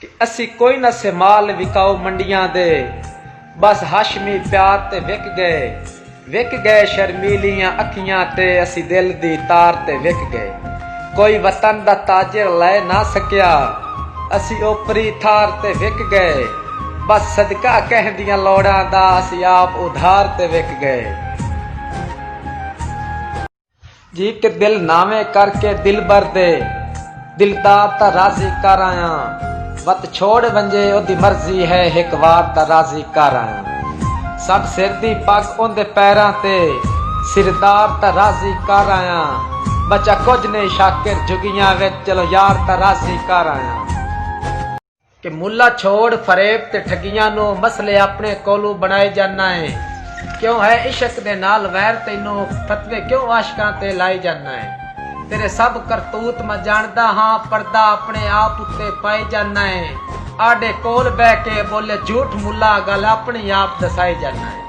کہ اسی کوئی نہ سے مال وکاؤ منڈیاں دے بس ہاشمی پیار تے وک گئے وک گئے شرمیلیاں اکھیاں تے اسی دل دی تار تے وک گئے کوئی وطن دا تاجر لئے نہ سکیا اسی اوپری تھار تے وک گئے بس صدقہ کہیں دیاں لوڑاں دا اسی آپ ادھار تے وک گئے۔ جی کے دل ناویں کر کے دلبر دے دلدار تاں راضی کر آیاں وت چھوڑ ونجے اودی مرضی ہے ہک وار تاں راضی کر آیاں سڈ سر دی پگ اوندے پیراں تے سردار تاں راضی کر آیاں بچا کجھ نئیں شاکر جھگیاں وچ چلو یار تاں راضی کر آیاں۔ کہ ملا چھوڑ فریب تے ٹھگیاں نو مسلے اپنے کولوں بنڑائے جاننا اے کیوں ہے عشق دے نال ویر تینو فتوے کیوں عاشقاں تے لائے جاننا اے تیرے سب کرتوت میں جانڑدا ہاں پردہ اپنے آپ اتے پائے جاننا اے آڈے کول بہہ کے بولے جھوٹ ملا گل اپنی آپ دسائے جاننا اے۔